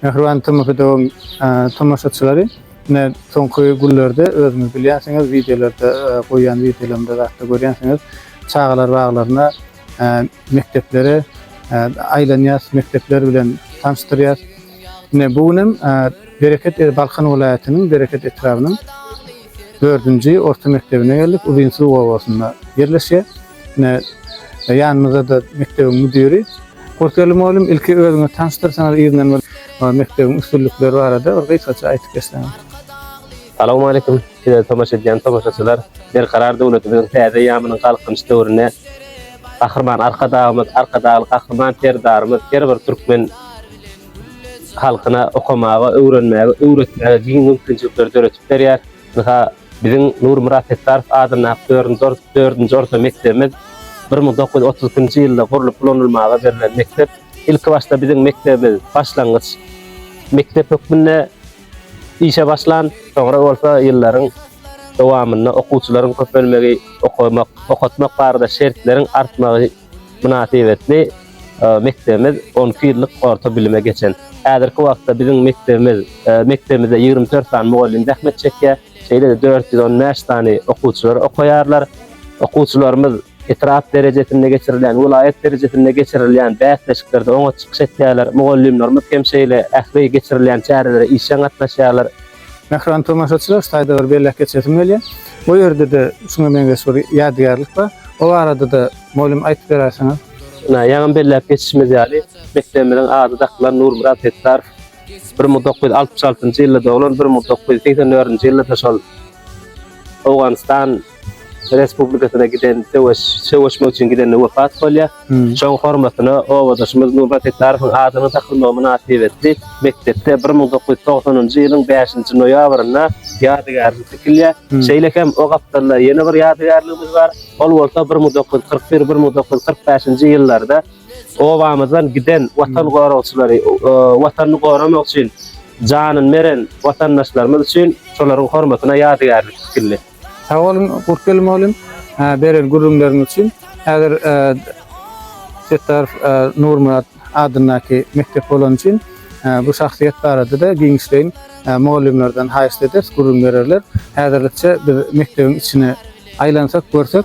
Mähriban Tomafidowyň tomaşaçylary ine soňky günlerde özüňiz bilýänsiňiz wideolarda goýýan wideolarymda zatda görýänsiňiz çagalar baglaryna mekdeplere aýlanýas mekdepler bilen tanşdyrýas ine bu gün hem Bereket Balkan welaýatynyň Bereket etrabynyň Dördünji orta mekdebine geldik. Uzynsuw obasynda ýerleşýär. Ine, ýanymyzda-da mekdebiň müdiri. Horkeldi mugallym, ilki özüňizi tanyşdyrsaňyz yzyndan bir mekdebiň üstünlikleri barada bir gysgaça aýdyp geçseňiz. Salowmaleýkim, bize tomaşa edýän tomaşaçylar! Berkarar döwletimiziň täze eýýamynyň Galkynyş döwründe Gahryman Arkadagymyz, Arkadagly Gahryman Serdarymyz her bir türkmen halkyna okamaga, öwrenmäge, öwretmäge giň mümkinçilikleri döredip, berýär. Ynha, biziň Nurmyrat Setdarow adyndaky dördünji orta mekdebimiz bir müň dokuz ýüz otuz ikinji ýylda gurlup ulanylmaga berlen mekdep. Ilkibaşda biziň mekdebimiz başlangyç mekdep hökmünde işe başlan. Soňra bolsa ýyllaryň dowamynda okuwçylaryň köpelmegi, okamak, okatmak barada şertleriň artmagy, mynasybetli mekdebimiz on iki ýyllyk orta bilime geçen. Häzirki wagtda biziň mekdebimiz mekdebimizde ýigrimi dört sany mugallym zähmet çekýär, şeýle-de dört ýüz on bäş sany okuwçylar okaýarlar. Okuwçylarymyz etrap derejesinde geçirilýän, welaýat derejesinde geçirilýän bäsleşiklerde oňat çykyş etýärler. Mugallymlarymyz hem şeýle ähli geçirilýän çärelere işjeň gatnaşýarlar. Mähriban tomaşaçylar, şu taýda bir belläp geçesim gelýär. Bu ýerde-de şuňa meňzeş bir ýadygärlik bar. O barada-da, mugallym, aýdyp beräýseňiz. Ynha, ýaňam belläp geçişimiz ýaly, mekdebimiziň ady dakylan Nurmyrat Setdarow. Bir müň dokuz ýüz altmyş altynjy ýylda doglan, bir müň dokuz ýüz segsen dördünji ýylda-da şol Owganystan, Respublikasyna giden söweş, söweşmek üçin gidende wepat bolýar. Şoň hormatyna obadaşymyz Nurmat Setdarowyň adynyň dakylmagy mynasybetli mekdepde bir müň dokuz ýüz togsanynjy ýylyň bäşinji noýabrynda ýadygärlik tikilýär. Şeýle hem o gapdalda ýene bir ýadygärligimiz bar. Ol bolsa bir müň dokuz ýüz kyrk bir, bir müň dokuz ýüz kyrk bäşinji ýyllarda obamyzdan giden watan goragçylary, Watanyny goramak üçin janyny beren watandaşlarymyz üçin şolaryň hormatyna ýadygärlik tikildi. Sag boluň Gurtgel mugallym, beren gürrüňleriňiz üçin. Häzir Setdarow Nurmyrat adyndaky mekdep bolany üçin bu şahsyýet barada-da giňişleýin mugallymlardan haýyşt ederis, gürrüň bererler. Häzirlikçe biz mekdebiň içine aýlansak, görsek,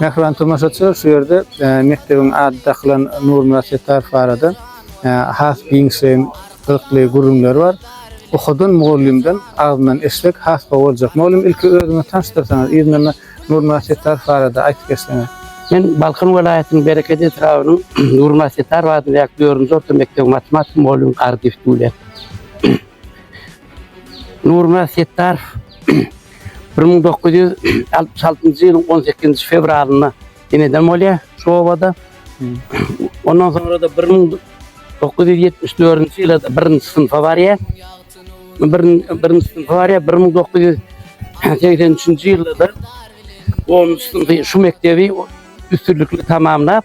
Mähriban tomaşaçylar şu ýerde mekdebiň ady dakylan Nurmyrat Settarow barada has giňişleýin gyzykly gürrüňler bar. Ohadan mugallymdan agzyndan eşitmek has gowy boljak. Mugallym ilki özüňizi tanyşdyrsaňyz, yzyndan-da Nurmyrat Settarow barada aýdyp geçseňiz. Men Balkan welaýatynyň Bereket etrabynyň Nurmyrat Settarow adyndaky dördünji orta mekdebiň matematika mugallymy Gardyýew Dulýat. Nurmyrat Setdarow bir müň dokuz ýüz altmyş altynjy ýylyň on sekizinji fewralynda ineden bolýar şu obada. Ondan soňra-da bir müň dokuz ýüz ýetmiş dördünji ýyl-da birinji synpa barýar. Birinji synpa barýar, bir müň dokuz ýüz segsen üçünji ýylda-da onunjy synpy şu mekdebi üstünlikli tamamlap,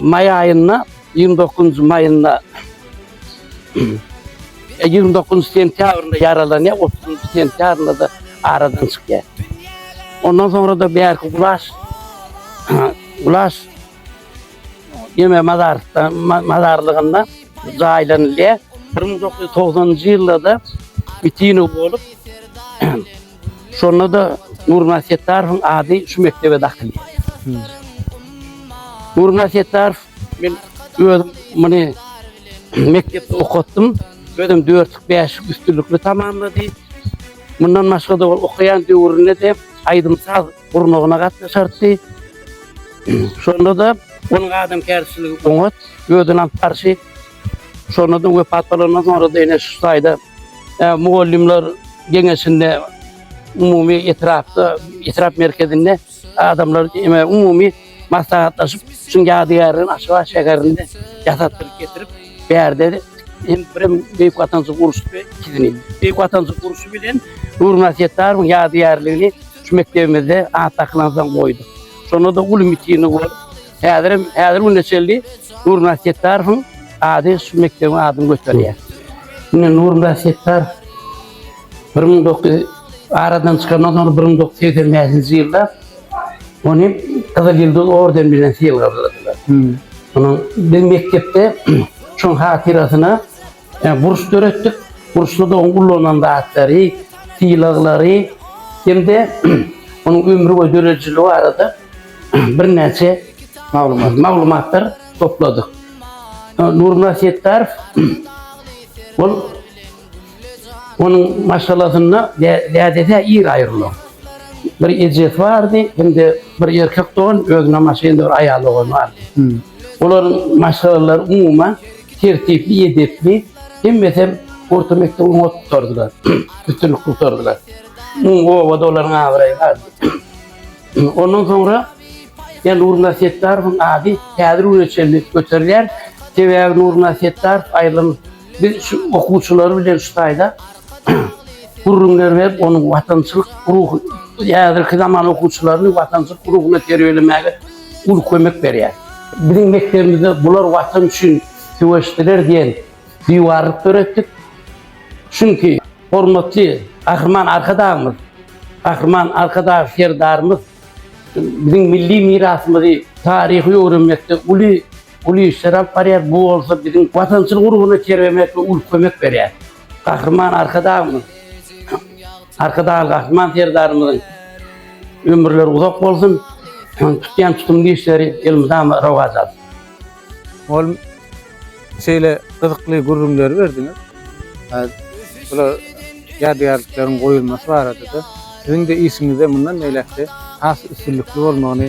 Maý aýynda 29-njy maýynda 29-njy sentýabrynda ýaralanýar, 30-njy sentýabrynda da aradan çykýar. Ondan soňra da bärki gulaş gulaş ýeme mazarda mazarlygynda jaýlanylýar. 1990-njy ýylda da bitini bolup Şonda-da Nurmyrat Setdarowyň ady şu mekdebe dakylýar. Nurmyrat Setdarow, men özüm muny mekdepde okatdym, özem dörtlük, bäşlik üstünlikli tamamlady. Mundan başga-da ol okaýan döwründe-de aýdym-saz gurmagyna gatnaşardy. Şonda-da onuň adamkärçiligi oňat gözden alyp barşy, şonda-da wepat bolandan soňra-da ene şu taýda e, mugallymlar geňeşinde umumy etrapda, etrap merkezinde adamlar umumy maslahatlaşyp, şuň ýadygärligini Aşgabat şäherinde ýasatdyryp getirip, bärde hem birem Beýik Watançylyk urşy we ikisini, Beýik Watançylyk urşy bilen Nurmyrat Setdarowyň ýadygärligini şu mekdebimizde at dakylan soň goýduk. Şonda-da uly mitingi bolup, häzir hem, häzirki güne çenli Nurmyrat Setdarowyň ady şu mekdebiň adyny göterýär. Indi Nurmyrat Setdarow Bir müň dokuz ýüz aradan çykandan soň bir müň dokuz ýüz segsen bäşinji ýylda ony Gyzyl Ýyldyz orden bilen sylagladylar. Onuň biz mekdepde şoň hatyrasyna burç e, döretdik. Burçda da onuň ullanan zatlary, sylaglary hem-de onuň ömri we döredijiligi barada birnäçe maglumat maglumatlar topladyk. Nurmyrat Setdarov ol Onuň maşgalasynda dädesi-ä ir aýrylan. Bir ejesi bardy, hem-de bir erkek dogan, özüne maşgala bir aýal dogany bardy. Olaryň maşgalalary umuman tertipli, edepli, hemmesem orta mekdebi oňa tutardylar, üstünlikli tutardylar. Umumy obada olaryň abraýy bardy. Ondan soňra ýa Nurmyrat Setdarowyň ady häzir güne çenli göterilýär. Sebäbi Nurmyrat Setdarow aýrylan Biz şu okuwçylar bilen şu taýda gürrüňler berip, onuň watançylyk ruhuny, häzirki zaman okuwçylaryny watançylyk ruhuna terbiýelemäge uly kömek berýär. Biziň mekdebimizde Bular Watan üçin söweşdiler diýen diwarlyk döretdik. Çünki hormatly Gahryman Arkadagymyz, Gahryman Arkadag Serdarymyz biziň milli mirasymyzy, taryhy öwrenmekde uly uly işler alyp barýar, bu bolsa biziň watançylyk urgyna terbemekligi uly kömek berýär. Gahryman Arkadagymyz, Arkadagly Gahryman Serdarymyzyň ömürleri uzak bolsun, tutýan tutumly işleri elmydama rowaç alsyn. Mugallym, şeýle gyzykly gürrüňleri berdiňiz. Bular ýadygärlikleriň goýulmasy barada-da, siziň-de işiňizde mundan beýläk-de has üstünlikli bolmagyny